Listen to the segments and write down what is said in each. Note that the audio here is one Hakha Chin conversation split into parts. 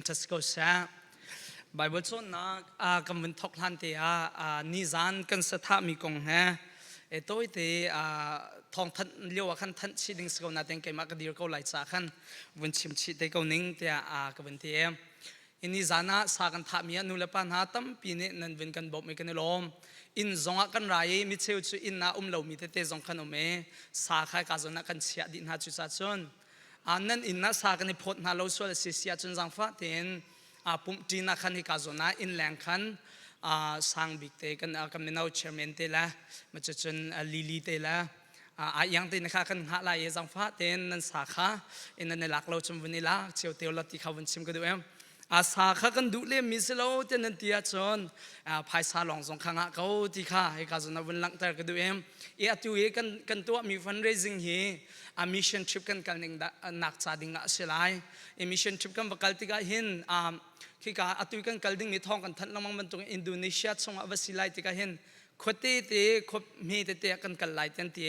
Francis ko seh. Bible cawnnak ah kan vun thok hlan te ah nizan kan sathahmi kong he e tawite thong thanh lio ah khan thanh chi ding si ko na ten keimah ka dir ko lai cha khan vun chim chi te ko ning tiah ka vun ti e ini zan ah sa kan thahmi ah nu le pa hna tampi nih nan vun kan bawm kan i lawm inn zong ah kan ra i micheu cu inn ah um lomi tete zong kan um e sa kha ka zon ah kan chiah dih hna cu sa cun a nan in na sa kan i phawt hna lo sual si sia cun zangfah tein a pumh ṭin ah khan hika zawn ah inn leng khan sang bik te kan kan mino chairman te la ma cu cun lili te la a iang te na kha kan hah lai i zangfah tein nan sa kha ina ne lak lo chum vun i lak cheu teo la ti kha vun chim ka duh em asa kha kan duh lemmi si lo tiah nan ti ahcun phaisa lawng zong kha ngah ko ti kha hika zon vun langhter ka duh em i atu i kan kan tuahmi fundraising hi a mission trip kan kal ning nak ca ding ah a si lai i mission trip kan va kal tikah hin khika atu kan kal dingmi thawng kan thanh lengmang bantuk Indonesia chungah va si lai tikah hin khuate te khupmi tete kan kal lai tian ti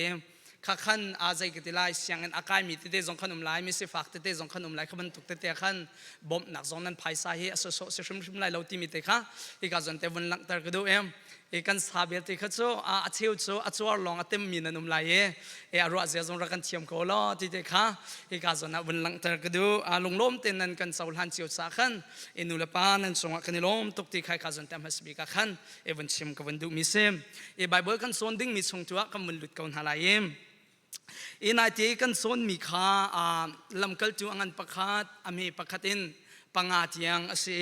kha khan a zei ka ti lai sianginn a kaimi tete zong khan um lai misifak tete zong khan um lai kha bantuk tete khan bawmhnak zong nan phaisa hi a soso si hrimhrim lai lo timi te kha i ka zon te vun langhter ka duh em i kan sa belte kha cu a cheu cu a cuar lawng a temmi nan um lai i e a ruah zia zong ra kan thiam ko lo ti te kha i ka zon ah vun langhter ka duh a lunglawm te nan kan so hlan cio sa khan i nu le pa nan cungah kan i lawm tuk ti khai ka zon te hmasbi ka khan i vun chim ka vun duh mi si i bible kan sawn ding mi chung cu ah kan vun lut ko hna lai i i naite kan sawn mi kha lamkal cu a ngan pakhat a me pakhat in panga tiang a si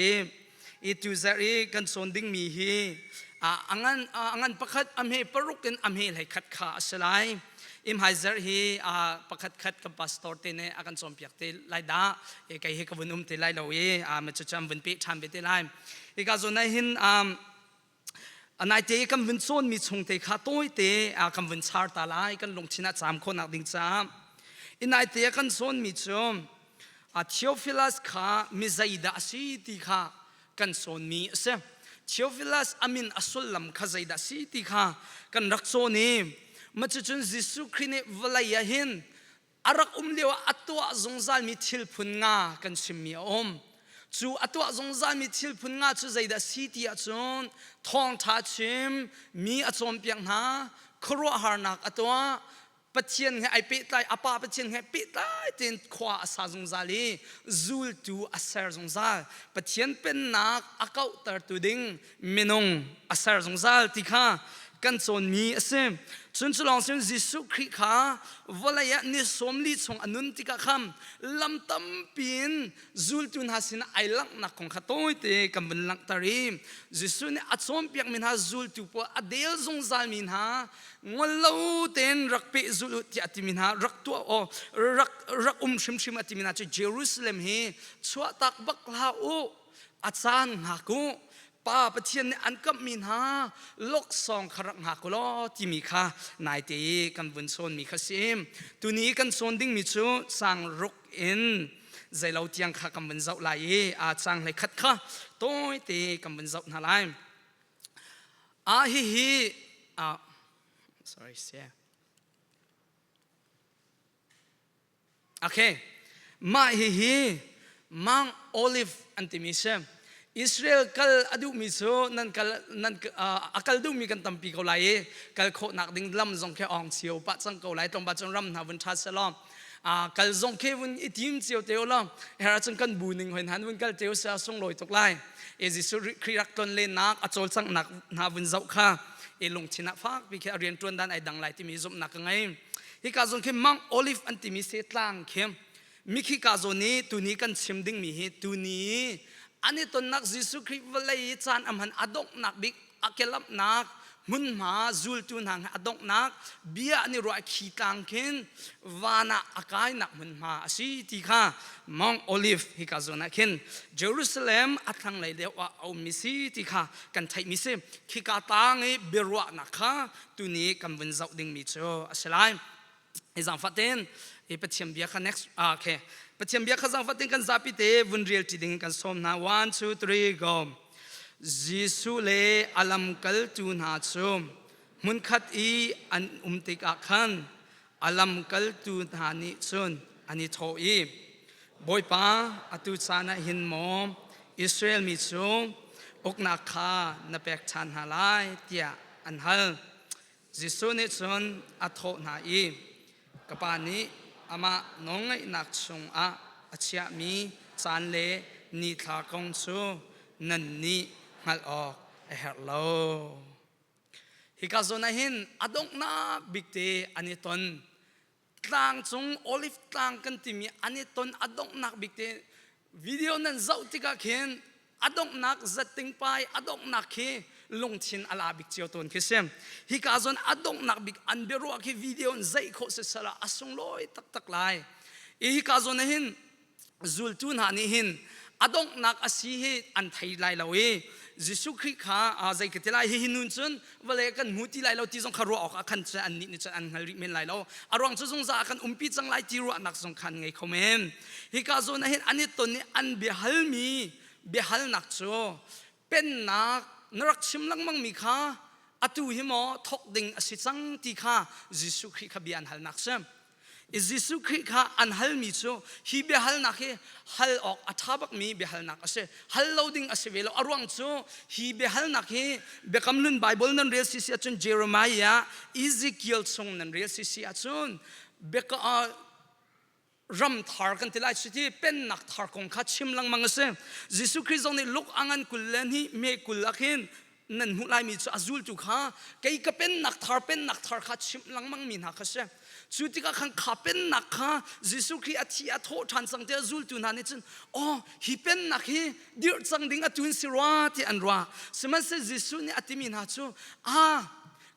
i tu zarh i kan sawn ding mi hi a ngan a ngan pakhat a me paruk in a me hlei khat kha a si lai imhai zarh hi pakhat khat kan pastor te ne a kan chom piak te lai da e kai hi ka vun um te lai lo e a ma chu cham vun pe than be te lai Ika zo nai hin um anaite kan vun cawn mi chung te kha tawite kan vun char ta lai kan lungthin a cham khawnak ding cha inaite kan cawn mi cu Theophilus kha mi zeidah a si ti kha kan cawn mi a si Theophilus amin a sullam kha zeidah si ti kha kan rak cawn i macu cun Jesuh Khrih nih vawlei ah hin a rak um lio ah a tuah zungzalmi thil phun nga kan chimmi a um cu a tuah zungzalmi thil phun nga cu zeidah si ti ahcun thawngṭha chim mi a cawnpiak hna khuaruahharnak a tuah Pathian he ai pehtlai a pa Pathian he pehtlai tein khua a sa zungzal i zultu a ser zungzal Pathian pennak a kauhtertu ding minung a ser zungzal ti kha kan cawnmi a si cun cu lawng sin Jesuh Khrih kha vawlei ah ni sawm li chung a nun tikah khan lam tampi in zultu hna sinah ai langhnak kong kha tawite kan vun langhter i Jesuh nih a cawnpiakmi hna zultu pawl a del zungzalmi hna ngol lo tein rak peh zul u tiah a timi hna rak tuah aw rak rak um hrimhrim a timi hna cu Jerusalem hi chuahtak bak hlah u a caan hngak u pa pathian nih an kamhmi hna loksawng kha rak hngak u law timi kha naite i kan vun chawnmi kha si tuni kan chawn dingmi cu sang ruk in zeilo tiang kha kan vun zoh lai i a cang hlei khat kha tawite kan vun zoh hna lai a hihi ah sorry Okay. Mah hihi Mount Olive an timi si. Israel kal a duhmi cu nan kal nan a kal duhmi kan tampi ko lai i kal khawhnak ding lam zong khi ong cio pah cang ko lai tlawmpa cun ram hna vun ṭha se law kal zong khi vun i tim cio te law era cun kan bu ning hoin han vun kal te se sunglawi tuk lai e Jesuh Khrih rak tlon lenak a cawlcanghnak hna vun zoh kha e lungthinak fak pi khi a rian ṭuan dan ai dang lai timi zumhnak ka ngei Hika zong khi Mount Olive an timi se tlang khi mikhi ka zo ni tuni kan chim ding mi hi tuni ani tonnak Jesuh Khrih vawlei i caan amhan adonghnak bik akelamnak hmunhma zultu hna he adonghnak bia an i ruah khi tlang khin van ah akainak hmunhma asi ti kha Mount Olive hika zon ah khin Jerusalem athlang lei deuh ah a um mi si ti kha kan theih mi si khika tang i biaruahnak kha tuni kan vun zoh dingmi cu a si lai hi zaangfatin i pathian bia kha next ah okay pathian bia kha zaangfatin kan zapi te vun rel ṭi ding kan sawm hna one two three go Jesuh le a lamkaltu hna cu hmunkhat i an um tikah khan A lamkaltu hna nih cun an i thawh i, Bawipa, atu caan ah hin maw Israel mi cu uknak kha na pek ṭhan hna lai, tiah an hal. Jesuh nih cun a thawh hna i, Ka Pa nih amah nawlngaihnak chungah a chiahmi caan le ni thla kong cu nan nih hngalh awk a herh lo. Hika zawn ah hin a donghnak bik te an i ton. Tlang cung olive tlang kan timi an i ton a donghnak bik te video nan zoh tikah khin a donghnak zatting pai a donghnak khi lungthin a la bik cio tawn khi si hika zon a donghnak bik an biaruah khi video in zeih khawh sisala a sunglawi taktak lai i hika zon ah hin zultu hna nih hin a donghnak a si hi an thei lai lo i Jesuh Khrih kha zei ka ti lai hi nun cun vale kan hmu ti lai lo ti zong kha ruah awk ah khan an nih nih cun an hngal rih men lai lo a ruang cu zungzal ah kan umpi cang lai ti ruahnak zong khan ngei kho men hika zawn ah hin an i ton i an biahalmi biahalnak cu pennak na rak chim lengmang mi kha atu hi maw thawk ding a si cang ti kha Jesuh Khrih kha bia an halnak si Jesuh Khrih kha an halmi cu hi biahalnak hi hal awk a ṭha bakmi biahalnak a si. Hal lo ding a si ve lo. A ruang cu hi biahalnak hi Biakam Nun Baibal nan rel sisi ahcun Jeremiah, Ezekiel chung nan rel sisi ahcun ram thar kan ti lai cuti pennak thar kong kha chim lengmang a si. Jesuh Khrist zong nih Luk a ngan kul le hnih me kul ah khin nan hmuh laimi cu a zultu kha kei ka pennak thar pennak thar kha chimh lengmangmi hna kha si cu tikah khan kha pennak kha Jesuh Khrih a thi a thawh ṭhan cang ti a zultu hna nih cun oh hi pennak hi dirh cang ding a tun si rua ti an ruah sihmanhseh Jesuh nih a timi hna cu a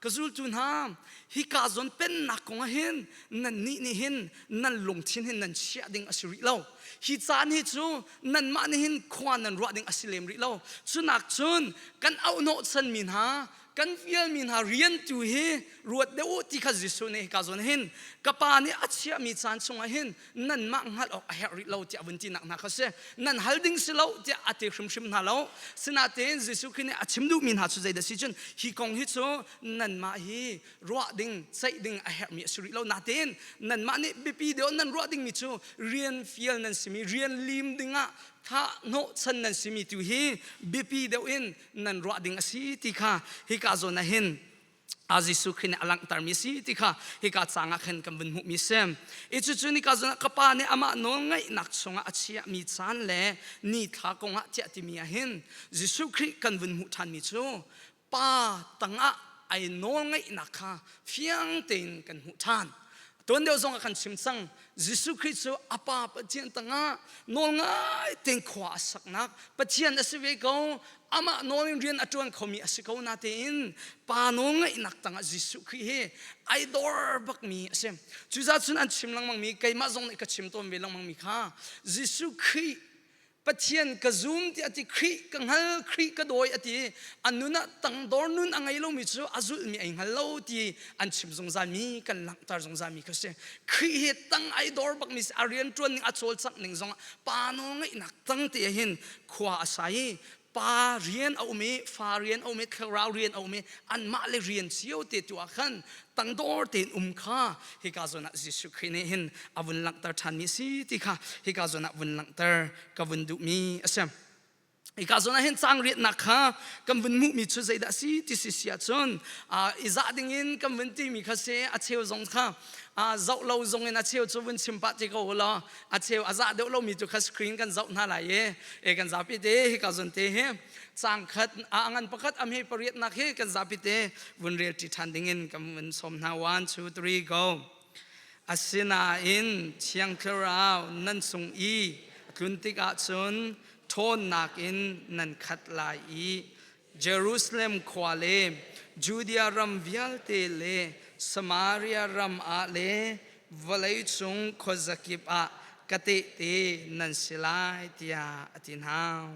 ka zultu hna hika zawn pennak kong ah hin nannih nih hin nan lungthin hin nan chiah ding a si rih lo hi caan hi cu nanmah nih hin khua nan ruah ding a si lem rih lo cunak cun kan auhnawhchan mi hna kan vialmi hna rian tu hi ruat deuh u ti kha Jesuh nih hika zawn hin ka pa nih a chiahmi caan chungah hin nanmah hngalh awk a herh rih lo tiah vun tinak hna kha si nan hal ding si lo tiah a ti hrimhrim hna lo sinain Jesuh Khrist nih a chim duhmi hna cu zeidah si cun hi kong hi cu nanmah hi ruah ding ceih ding a herhmi a si rih lo natin nanmah nih biapi deuh nan ruah dingmi cu rian fial nan simi rian lim dingah thah hnawhchan nan simi tu hi biapi deuh in nan ruah ding a si ti kha hika zawn ah hin a Jesuh Khrih nih a langhtermi a si ti kha hika cang ah khan kan vun hmuhmi a si. I cucu nika zong ah ka pa nih amah nawlngeihnak chungah a chiahmi caan le ni thla kongah tiah timi ah hin Jesuh Khrih kan vun hmuh ṭhanmi cu pa tangah ai nawlngeihnak kha fiang tein kan hmuh ṭhan. tuan deuh zong ah kan chim cang Jesuh Khrist cu a pa Pathian tangah nawl ngai ten khua a saknak Pathian a si ve ko amah nawl in rian a ṭuan khomi a si ko natein pa nawl ngaihnak tangah Jesuh Khrist hi idol bakmi a si cucaah cun an chim lengmangmi keimah zong nih ka chim tawn ve lengmangmi kha Jesuh Khrist Pathian ka zum tiah ti Khrih ka hngal Khrih ka dawi a ti a nun ah tangdor nun a ngei lomi cu a zulmi ai hngal lo ti an chim zungzal mi kan langhter zungzal mi kha si Khrih hi tang ai dor bak mi a rian tuan ning a cawlcangh ning zong pa nawl ngeihnak tang te hin khua a sa i pa rian a um i fa rian a um i thlarau rian a um i anmah le rian cio te tu ah khan tangdor tein um kha hika zawn ah Jesuh Khrist nih hin a vun langhter ṭhan mi si ti kha hika zawn ah vun langhter ka vun duh mi a si. Hika zawn ah hin cang riatnak kha kan vun hmuh mi cu zeidah si ti si si ahcun i zah ding in kan vun ti mi kha se a cheu zong kha a zoh lo zong in a cheu cu vun chim pah ti ko ulaw a cheu a zah deuh lomi cu kha screen kan zoh hna lai i e kan zapi te hi ka zun te hi cang khat a ngan pakhat am he pariat nak hi kan zapi te vun rel ṭi ṭhan dingin kan vun sawm hna one two three go asinain thiang thlarau nan sung i tlun tikah cun ṭhawnnak in nan khat lai i Jerusalem khua le Judea ram vialte le Samaria ram ah le vawleicung khuazakip ah ka tehte nan si lai tiah a ti hna.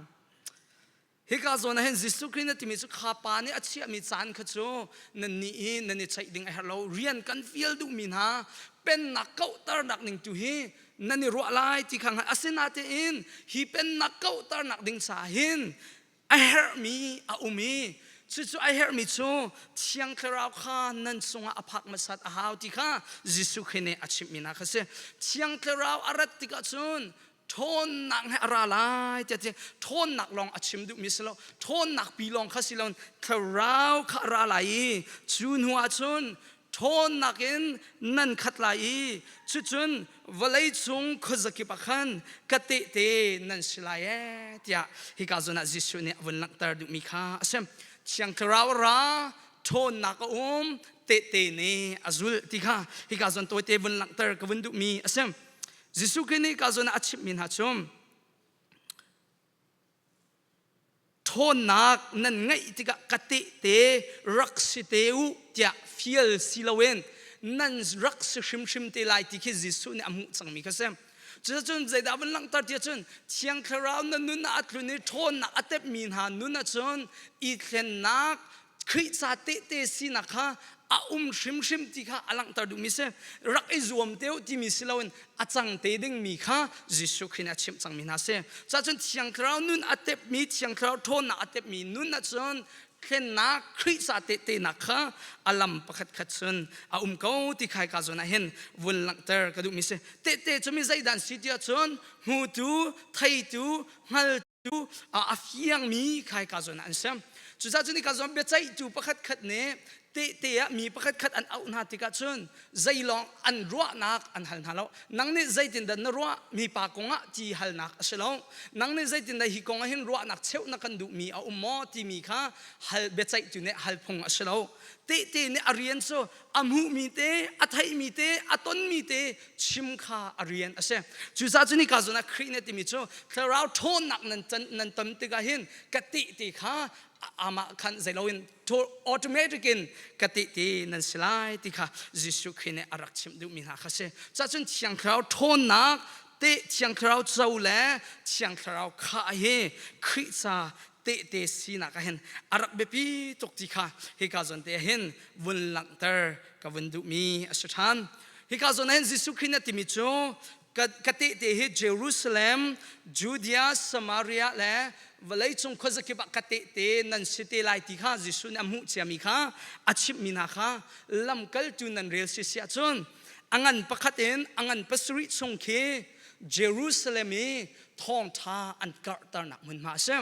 Hika zawn ah hin Jesuh Khrist na timi cu kha pa nih a chiahmi caan kha cu nan nih i nan i ceih ding a herh lo. Rian kan fial duhmi hna pennak kauhternak ning tu hi nan i ruah lai ti kha hngalh. Asinatein hi pennak kauhternak ding ca hin a herhmi a um i cucu a herhmi cu thiang thlarau kha nan cungah a phak hmasat a hau ti kha Jesuh Khrih nih a chimhminak kha si thiang thlarau a rat tikah cun ṭhawnnak he a ra lai tiah ti ṭhawnnak lawng a chim duhmi si lo ṭhawnnak pi lawng kha si lo thlarau kha a ra lai i cu hnuah cun ṭhawnnak in nan khat lai i cucun vawlei cung khuazakip ah khan ka tehte nan si lai ee tiah hika zun ah Jesuh nih a vun langhter duhmi kha a si thiang thlarau ra ṭhawnnak a um tehte nih a zul ti kha hika zon tawite vun langhter ka vun duhmi a si Jesuh Khrist nih ka zon ah a chimhmi hna cu ṭhawnnak nan ngeih tikah ka tehte rak si te u tiah fial si loin nan rak si hrimhrim te lai ti khi Jesuh nih a hmuh cangmi kha si. Cucun zeidah van langhter ti ahcun Thiang Thlarau na nun ah a tlun i ṭhawnnak a tepmi hna nun ahcun i thlennak Khrih ca tehte sinak kha a um hrimhrim ti kha a langhter duhmi si rak i zuam te timi si loin a cang te dingmi kha Jesuh Khrih nih a chimh cangmi hna si cuahcun thiang thlarau nun a tepmi thiang thlarau ṭhawnnak a tepmi nun ahcun thlennak Khrih ca tehtenak kha a lam pakhatkhat chun a um ko ti khai ka zawn ah hin vun langhter ka duhmi si tehte cu mi zeidan si ti ahcun hmutu theitu hngal cu a fiangmi khai ka zuan an sem cucaah cun ka zuan biaceihtu pakhat khat nih tehte ah mi pakhat khat an auh hna tikah cun zeilawng an ruahnak an hal hna lo nang nih zeitindah na ruah mipa kongah ti halnak a si lo nang nih zeitindah hi kongah hin ruahnak cheuh na kan duhmi a um maw timi kha hal biaceihtu nih hal phung a si lo tehte nih a rian cu a hmuhmi te a theihmi te a tonmi te chim kha a rian a si cucaah cu ni ka zun ah khrih ne timi cu thlarau ṭhawnnak nan nan tam tikah hin ka ti ti kha amah khan zeiloin automatic in ka ti ti nan si lai ti kha Jesuh Khrih nih a rak chimh duhmi hna kha si cuah cun thiang thlarau ṭhawnnak te thiang thlarau co le thiang thlarau khah hi Khrih ca tehte sinak ah hin a rak biapi tuk ti kha hika zawn te ah hin vun langhter ka vun duhmi a si ṭhan hika zawn ah hin Jesuh Khrih na timi cu ka tehte hi Jerusalem Judea Samaria le vawleicung khuazakip ah ka tehte nan si te lai ti kha Jesuh nih a hmuh ciami kha a chimhmi hna kha lamkaltu nan rel si si ahcun a ngan pakhat in a ngan pasarih chung khi Jerusalem i thawngṭha an karhternak hmunhma a si.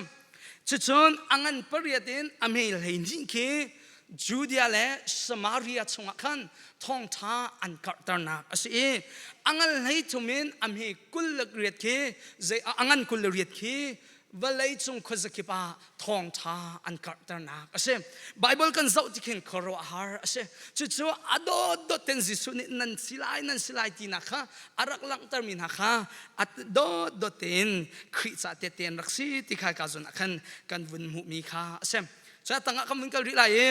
Cucun a ngan pariat in a mei hleihnih khi Judea le Samaria chungah khan thawngṭha an karhternak a si i a ngan hlei thum in a me kul le riat khi zei a ngan kul le riat khi vawlei cung khuazakip ah thawngṭha an karhternak a si. Baibal kan zoh ti khin khuaruahhar a si. Cucu a dawtdawt ten Jesuh nih nan si lai, nan si lai tinak kha a rak langhtermi hna kha a dawtdawt tein Khrih ca tete an rak si ti kha ka zun ah khan kan vun hmuhmi kha a si. Cu a tangah kan vun kal rih lai i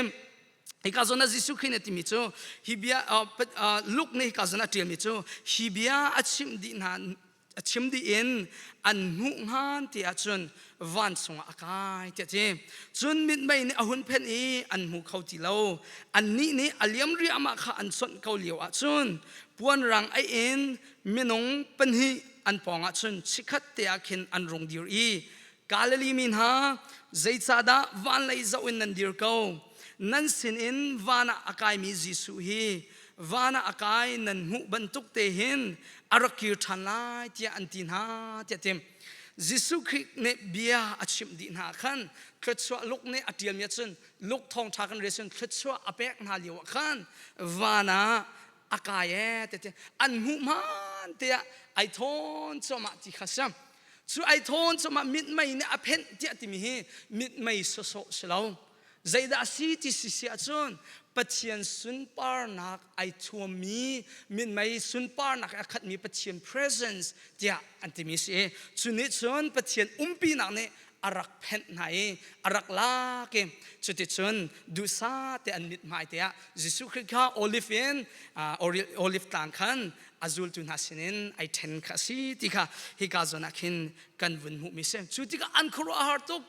Hika zon ah Jesuh Khrih nih timi cu hi bia Luke nih hika zon a ṭialmi cu hi bia a chimh dih hna a chim dih in an hmuh ngan ti ahcun vansung ah a kai tiah ti cun mitmei nih a hun phen i an hmu kho ti lo annih nih a liam riahmah kha an sonh ko lio ahcun puanrang ei in minung pahnih an pawng ahcun chikhat te ah khin an rung dir i Galilee mi hna zeicahdah van lei zoh in nan dir ko nan sinin van ah a kaimi Jesuh hi van ah a kai nan hmuh bantuk te hin a rak kir ṭhan lai tiah an ti hna tiah tim Jesuh Khrih nih bia a chimh dih hna khan thluachuah luk nih a ṭialmi ah cun luk thawngṭha kan rel cun thluachuah a pek hna lio ah khan van ah a kai e tete an hmuh man te ah ai thawn cuahmah ti kha siam cu ai thawn cuahmah mitmei nih a phenh tiah timi hi mitmei sawsawh si lo Zeidah a si ti si ahcun Pathian sunparnak ai thuammi minmei sunparnak a khatmi Pathian presence tiah an timi a si i cu nih cun Pathian umpinak nih a rak phenh hna i a rak lak i cuticun duhsah te an mithmai tiah Jesuh Khrih kha oliv in oliv tlang khan a zultu hna sinin ai ṭhen kha a si ti kha hika zawn ah khin kan vun hmuhmi a si. Cu tikah an khuaruahhar tuk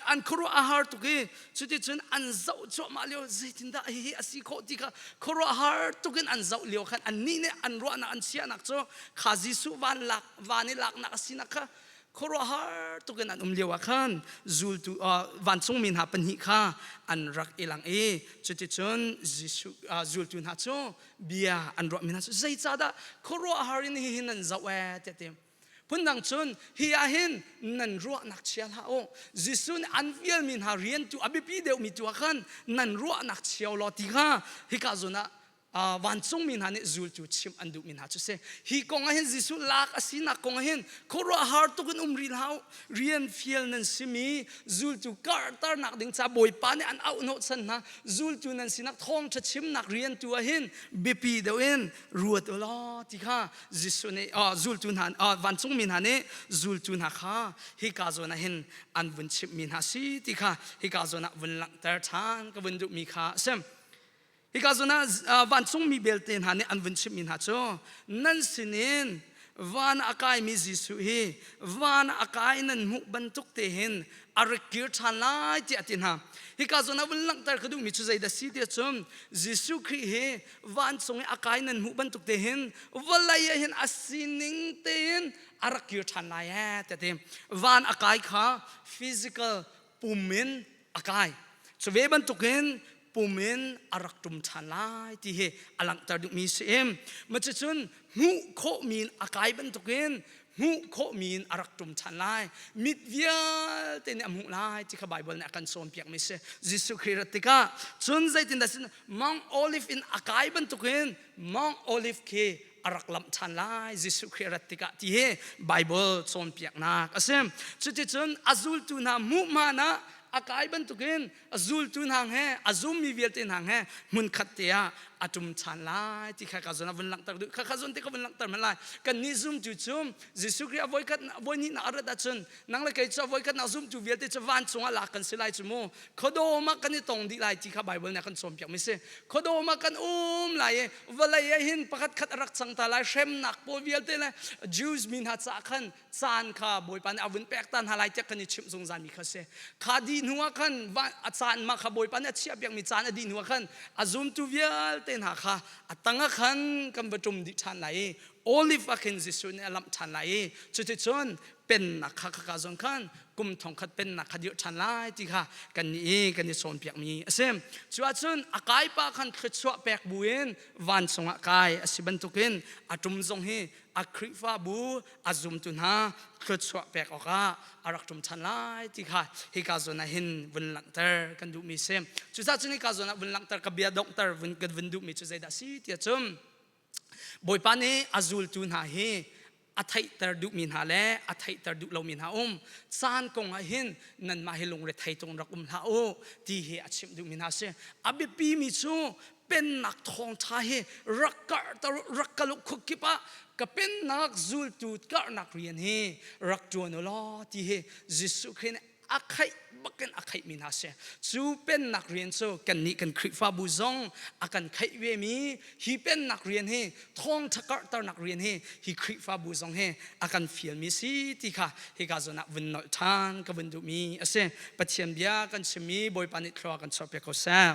an khuaruah a har tuk i cuticun an zoh cuahmah lio zeitindah hihi a si khawh ti kha khuaruah har tuk in an zoh lio khan annih nih an ruahnak an chiahnak cu kha Jesuh van, lak, van i laknak a sinak kha khuaruahhar tuk in an um lio ah khan zultu vancungmi hna pahnih kha an rak i lang i cuticun Jesuh zultu hna cu bia an ruahmi hna cu zeicahdah khuaruahhar in hihi nan zoh ee tiah ti Phundang cun hi ah hin nan ruahnak chia hlah u. Jesuh nih an vialmi hna rian tu a biapi deuhmi tu ah khan nan ruahnak chia law ti kha hika zun ah uh, vancungmi hna nih zultu chim an duhmi hna cu si hi kong ah hin Jesuh lak a sinak kong ah hin khuaruah har tuk in um rih hlah rian fial nan simi zultu karhternak ding ca bawipa nih an auh hnawh chan hna zultu nan sinak thawngtha chimnak rian tu ah hin biapi deuh in ruat u law ti kha Jesuh nih zultu hna vancungmi hna nih zultu hna kha hika zawn ah hin an vun chimhmi hna si ti kha hika zawn ah vun langhter ṭhan ka vun duhmi kha a si. Hika zawn ah vancungmi belte hna nih an vun chimhmi hna cu nan sinin van a kaimi Jesuh hi van a kai nan hmuh bantuk te hin a rikir ṭhan lai tiah a ti hna. Hika zawn ah vun langhter ka duhmi cu zeidah si ti cun Jesuh Khrih hi vancung i a kai nan hmuh bantuk te hin vawlei ah hin a sining tein a rak kir ṭhan lai ee te ti van a kai kha physical pum in a kai cu ve bantukin pum in a rak ṭum ṭhan lai ti hi a langhter dingmi si im macicun hmuh khawhmi in a kai bantukin hmuh khawhmi in a rak ṭum ṭhan lai mit vialte nih a hmuh lai ti kha Baibal nih a kan cawnpiakmi a si Jesuh Khrih rat tikah cun zeitindah sin Mount Olive in a kai bantukin Mount Olive khi a rak lamh ṭhan lai Jesuh Khrih rat tikah ti hi Baibal cawnpiaknak a si cuticun a zultu hna hmuhman ah a kai bantukin a zultu hna he a zummi vialte hna he hmunkhat te ah a tum than lai ti kha ka zon a vun langhter duh kha kha zon te ka vun langhter man lai kan nih zum cu cu Jesuh Khrih a voi khat voi ni na arat ahcun nang le kei cu a voi khat na zum cu vialte cu van chungah lak kan si lai cu mu khuadawm ah kan i tong dih lai ti kha Bible nih a kan cawn piak mi si khuadawm ah kan um lai i vawlei ah hin pakhat khat a rak cang ta lai hremnak pawl vialte le Jews mi hna caah khan caan kha Bawipa nih a vun pekta hna lai tiah kan i chimh zungzal mi kha si kha dih hnu ah khan a caan ma kha Bawipa nih a chiah piakmi caan a dih hnu ah khan a zumtu vialte hna kha a tangah khan kan va ṭum dih ṭhan lai i olive ah khin Jesuh nih a lamh ṭhan lai i cuticun pennak kha khaka zon khan kum thong khat pennak kha dirh ṭhan lai ti kha kan ni i kan i cawnpiakmi a si cuahcun a kaipa khan thluachuah pek buin vancung ah kai a si bantukin a ṭum zong hi a Khrihfabu a zumtu hna thluachuah pek awkah a rak ṭum ṭhan lai ti kha hika zawn ah hin vun langhter kan duhmi si. Cucaah cun hika zawn ah vun langhter ka bia donghter vun kan vun duhmi cu zeidah si ti cun Bawipa nih a zultu hna hi a theihter duhmi hna le a theihter duh lomi hna um caan kong ah hin nanmah hi lungre thei tung rak um hlah u ti hi a chimh duhmi hna si a biapimi cu pennak thawngtha hi rak karhter rak ka luk khuk kip ah ka pennak zultu karhnak rian hi rak tuan u law ti hi Jesuh Khrih nih a khaih bakin a khaih mi hna si cu pennak rian cu kan nih kan Khrihfabu zong a kan khaih ve mi hi pennak rian hi thawngtha karhternak rian hi hi Khrihfabu zong hi a kan fial mi si ti kha hi ka zon ah vun nolh than ka vun duh mi a si Pathian bia kan chim mi Bawipa nih thluak kan chuahpiak ko seh